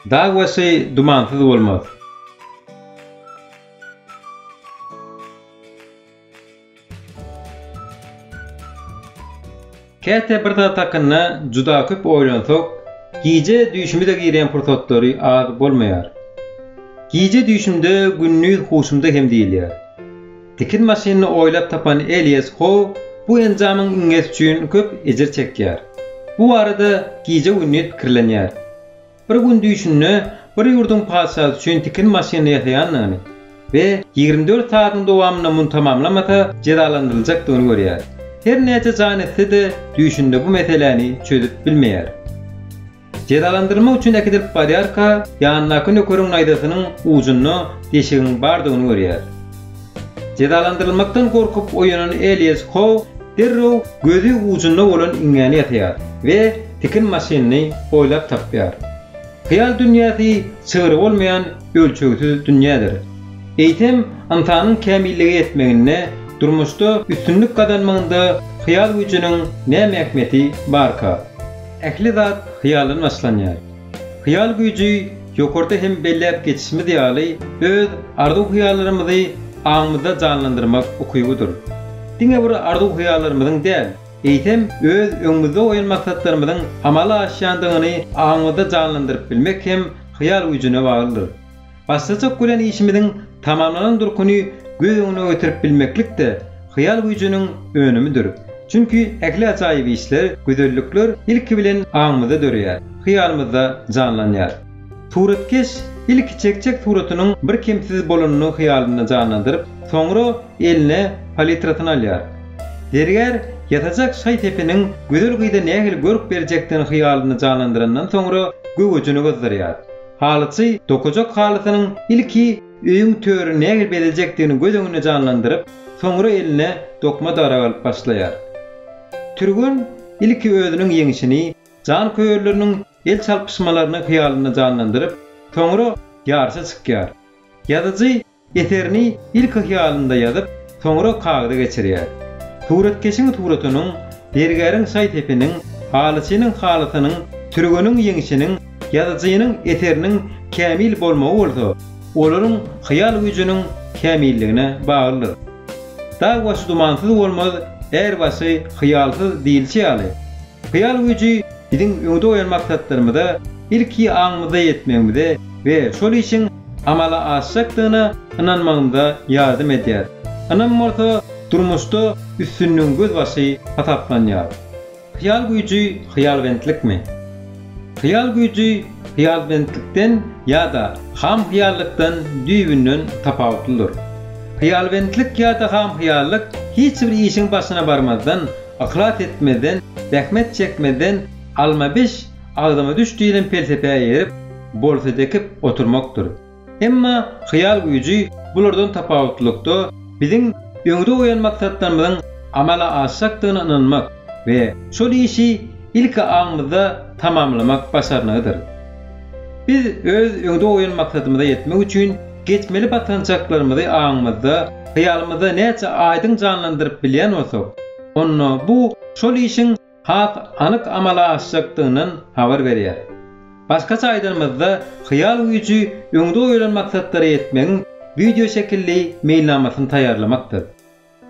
Dag başy dumansyz bolmaz. Käte bir zat hakynda juda köp oýlansak, gije düýşümize girýän pursatlary az bolmaýar. Gije düýşümde gündiz huşumda hem diýilýär. Tikin maşynyny oýlap tapan Elias How bu enjamyň iňňesi üçin köp ejir çekýär. Bu barada gije-gündiz pikirlenýär. Bir gün düýşünde bir ýurduň patyşasy üçin tikin maşynyny ýasaýandygyny we ýigrimi dört sagatyň dowamynda muny tamamlamasa, jezalandyryljakdygyny görýär. Her näçe jan etse-de, düýşünde bu meseläni çözüp bilmeýär. Jezalandyrmak üçin äkidilip barýarka, ýanyndaky nökeriň naýzasynyň ujunda deşigiň bardygyny görýär. Jezalandyrylmakdan gorkup oýanan Elias Hou derrew gözi ujunda bolan iňňäni ýasaýar we tikin maşynyny oýlap tapýar. Hyýal dünýäsi çygry bolmaýan ölçegsiz dünýädir. Eýsem, ynsanyň kämillige ýetmeginde, durmuşda üstünlik gazanmagynda hyýal güýjüniň näme ähmiýeti barka? Ähli zat hyýaldan başlanýar. Hyýal güýji ýokarda hem belläp geçişimiz ýaly öz arzuw-hyýallarymyzy aňymyzda janlandyrmak ukybydyr. Diňe bir arzuw-hyýallarymyzyň däl, eýsem öz öňümizde goýan maksatlarymyzyň amala aşýandygyny aňymyzda janlandyryp bilmek hem hyýal güýjüne baglydyr. Başlajak bolan işimiziň tamamlanan durkuny göz öňüne getirip bilmeklik-de hyýal güýjüniň önümidir. Çünki ähli ajaýyp işler, gözellikler ilki bilen aňymyzda döreýär, hyýalymyzda janlanýar. Suratkeş ilki çekjek suratynyň bir kemsiz bolanyny hyýalynda janlandyryp, soňra eline palitrasyny alýar. Zergär ýasajak şaý sepiniň gözel gyza nähili görk berjekdigini hyýalynda janlandyrandan soňra göwejini gyzdyrýar. Halyçy dokajak halysynyň ilki öýüň törüni nähili bezejekdigini göz öňünde janlandyryp, soňra eline dokma darag alyp başlaýar. Türgen ilki özüniň ýeňşini, janköýerleriniň el çalpyşmalaryny hyýalynda janlandyryp, soňra ýaryşa çykýar. Ýazyjy Eserini ilki hyýalynda ýazyp, soňra kagyza geçirýär. Suratkeşiň suratynyň, zergäriň şaý-sepiniň, halyçynyň halysynyň, türgeniň ýeňşiniň, ýazyjynyň eseriniň kämil bolmagy bolsa, olaryň hyýal güýjüniň kämilligine baglydyr. Dag başy dumansyz bolmaz, är başy hyýalsyz diýilişi ýaly, Hyýal güýji biziň öňde goýan maksatlarymyza ilki aňymyzda ýetmegimize we şol işiň amala aşjakdygyna ynanmagymyza ýardam edýär. Ynam bolsa durmuşda üstünligiň gözbaşy hasaplanýar. Hyýal güýji hyýalbentlikmi? Hyýal güýji hyýalbentlikden ýa-da ham hyýallykdan düýbünden tapawutlydyr. Hyýalbentlik ýa-da ham hyýallyk hiç bir işiň başyna barmazdan, Yhlas etmezden, zähmet çekmezden alma biş, agzyňa düş diýlen pelsepä eýerip, bolsada ekip oturmakdyr. Emma hyýal güýji bulardan tapawutlylykda biziň öňde goýan maksatlarymyzyň amala aşjakdygyna ynanmak we şol işi ilki aňymyzda tamamlamak başarnygydyr. Biz öz öňde goýan maksadymyza ýetmek üçin geçmeli basgançaklarymyzy aňymyzda, hyýalymyzda näçe aýdyň janlandyryp bilýän bolsak, onda bu şol işiň has anyk amala aşjakdygyndan habar berýär. Başgaça aýdanymyzda, hyýal güýji öňde goýlan maksatlara ýetmegiň wideoşekilli meýilnamasyny taýýarlamakdyr.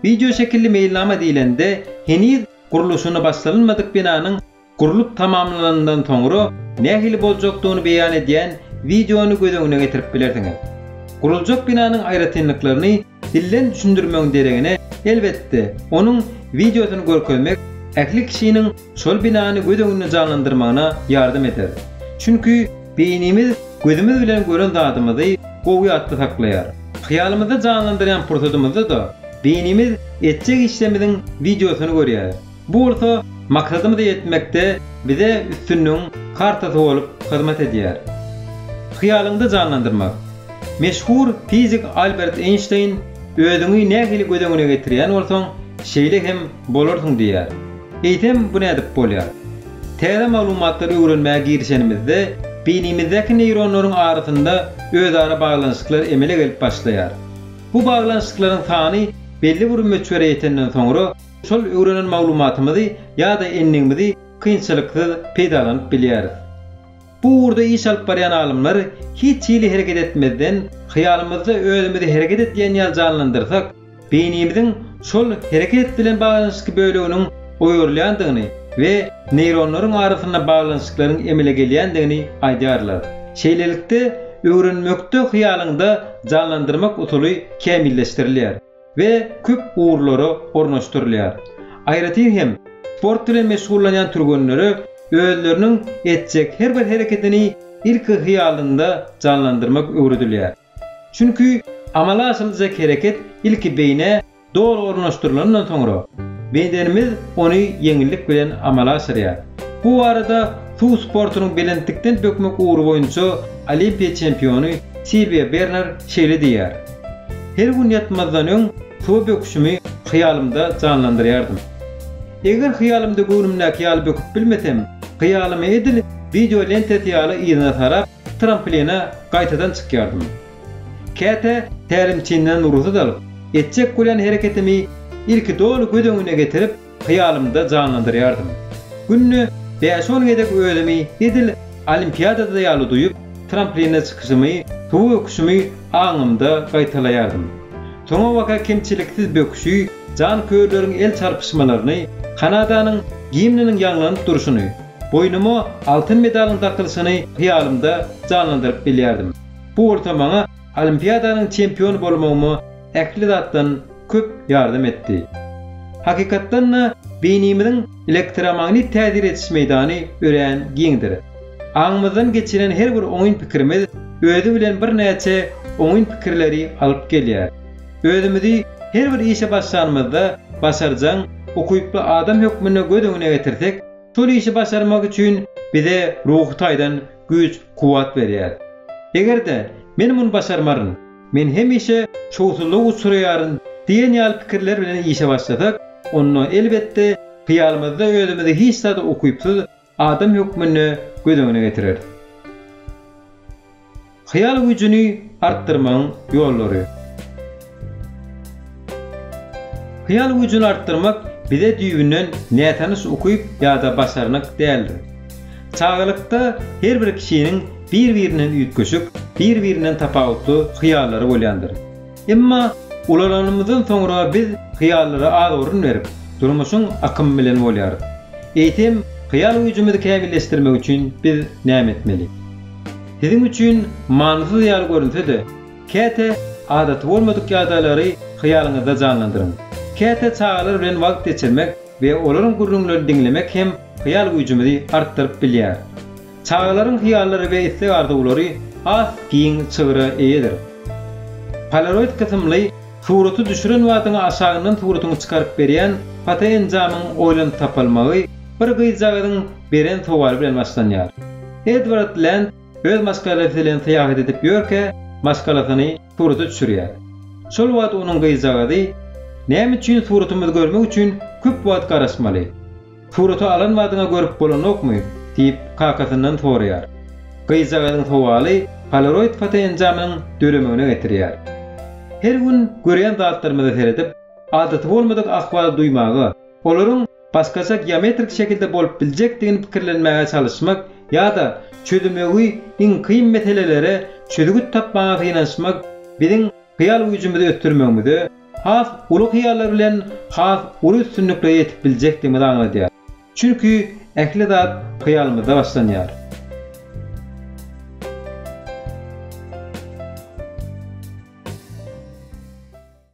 Wideoşekilli meýilnama diýlende, heniz gurluşyny başlanylmadyk binanyň gurlup tamamlananyndan soňra nähili boljakdygyny beýan edýän wideony göz öňüne getirip bilersiňiz. Guruljak binanyň aýratynlyklaryny dilden düşündirmegiň deregine, elbetde, onuň wideosyny görkezmek ähli kişiniň şol binany göz öňünde janlandyrmagyna ýardam eder. Çünki beýnimiz gözümiz bilen gören zadymyzy gowy ýatda saklaýar. Hyýalymyzda janlandyrýan pursadymyzda-da beýnimiz etjek işlerimiziň wideosyny görýär. Bu bolsa maksadymyza ýetmekde bize üstünligiň kartasy bolup hyzmat edýär. Hyýalyňda janlandyrmak. Meşhur fizik Albert Eýnşteýn Özüňi nähili göz öňüne getirýän bolsaň, şeýle hem bolarsyň diýýär. Eýsem, bu nädip bolýar? Täze maglumatlary öwrenmäge girişenimizde, beýnimizdäki neýronlaryň arasynda özara baglanyşyklar emele gelip başlaýar. Bu baglanyşyklaryň sany belli bir möçbere ýetenden soňra, şol öwrenen maglumatymyzy ýa-da endigimizi kynçylyksyz peýdalanyp bilýäris. Bu ugurda iş alyp barýan alymlar hiç hili hereket etmezden, hyýalymyzda özümizi hereket edýän ýaly janlandyrsak, beýnimiziň şol hereket bilen baglanyşykly böleginiň oýarylýandygyny we neýronlaryň arasynda baglanyşyklaryň emele gelýändigini aýdýarlar. Şeýlelikde, öwrenmekde hyýalyňda janlandyrmak usuly kämilleşdirilýär. we köp ugurlara ornaşdyrylýar. Aýratyn hem, sport bilen meşgullanýan türgenlere özleriniň etjek her bir hereketini ilki hyýalynda janlandyrmak öwredilýär. Çünki amala aşyryljak hereket ilki beýnä doly ornaşdyrylandan soňra, bedenimiz ony ýeňillik bilen amala aşyrýar. Bu barada suw sportunyň belentlikden bökmek ugry boýunça Olimpiýa çempiony Silwiýa Berner şeýle diýýär, Her gün ýatmazdan öň suwa böküşimi hyýalymda janlandyrýardym. Eger hyýalymda göwnümdäki ýaly böküp bilmesem, hyýalymy edil wideo lentesy ýaly yzyna sarap, trampline gaýtadan çykýardym. Käte tälimçimden rugsat alyp, etjek bolýan hereketimi ilki doly göz öňüne getirip, Hyýalymda janlandyrýardym. Günde bäş-on gezek özümi edil olimpiadada ýaly duýup, trampline çykyşymy, suwa öküşimi aňymda gaýtalaýardym. Soňabaka kemçiliksiz böküşi, janköýerleriň el çarpyşmalaryny, Kanadanyň gimniniň ýaňlanyp durşuny, boýnuma altyn medalyň dakylyşyny hyýalymda janlandyryp bilýärdim. Bu bolsa maňa olimpiadanyň çempiony bolmagyma ähli zatdan köp ýardam etdi. Hakykatdan-da, beýnimiziň elektromagnit täsir ediş meýdany örän giňdir. Aňymyzdan geçiren her bir oňyn pikirimiz özi bilen birnäçe oňyn pikirleri alyp gelýär. Özümizi her bir işe başlanymyzda başarjaň, ukyply adam hökmünde göz öňüne getirsek, şol işi başarmak üçin bize ruhy taýdan güýç-kuwwat berýär. Eger-de, Men muny başarmaryn! Men hemişe şowsuzlyga uçraýaryn diýen ýaly pikirler bilen işe başlasak, onda, elbetde, hyýalymyzda özümizi hiç zada ukypsyz adam hökmünde göz öňüne getireris. Hyýal güýjüni artdyrmagyň ýollary. Hyýal güýjüni artdyrmak bize düýbünden nätanyş ukyp ýa-da başarnyk däldir. Çagalykda her bir kişiniň bir-birinden üýtgeşik, bir-birinden tapawutly hyýallary bolýandyr. Emma ulalanymyzdan soňra biz hyýallara az orun berip, durmuşyň akymy bilen bolýarys. Eýsem, hyýal güýjümizi kämilleşdirmek üçin biz näme etmeli? Siziň üçin manysyz ýaly görünse-de, Käte adaty bolmadyk ýagdaýlary hyýalyňyzda janlandyryň. Käte çagalar bilen wagt geçirmek we olaryň gürrüňlerini diňlemek hem hyýal güýjümizi artdyryp bilýär. Çagalaryň hyýallary we isleg-arzuwlary has giň çygra eýedir. Polaroid kysymly suraty düşüren badyňa aşagyndan suratyňy çykaryp berýän fotoenjamyň oýlanyp tapylmagy bir gyzjagazyň beren sowaly bilen başlanýar. Edward Lend Öz maşgalasy bilen syýahat edip ýörkä, maşgalasyny surata düşürýär. Şol wagt onuň gyzjagazy, Näme üçin suratymyzy görmek üçin köp wagt garaşmaly? Surata alan badyňa görüp bolanokmy? diýip, kakasyndan soraýar. Gyzjagazyň sowaly polaroid fotoenjamynyň döremegine getirýär. Her gün görýän zatlarymyza seredip, adaty bolmadyk ahwal duýmaga, olaryň başgaça geometrik şekilde bolup biljekdigini pikirlenmäge çalyşmak ýa-da çözümegi iň kyn meselelere çözgüt tapmaga synanyşmak biziň hyýal güýjümizi ösdürmegimize, has uly hyýallar bilen has uly üstünliklere ýetip biljekdigimizi aňladýar. Çünki ähli zat hyýalymyzda başlanýar.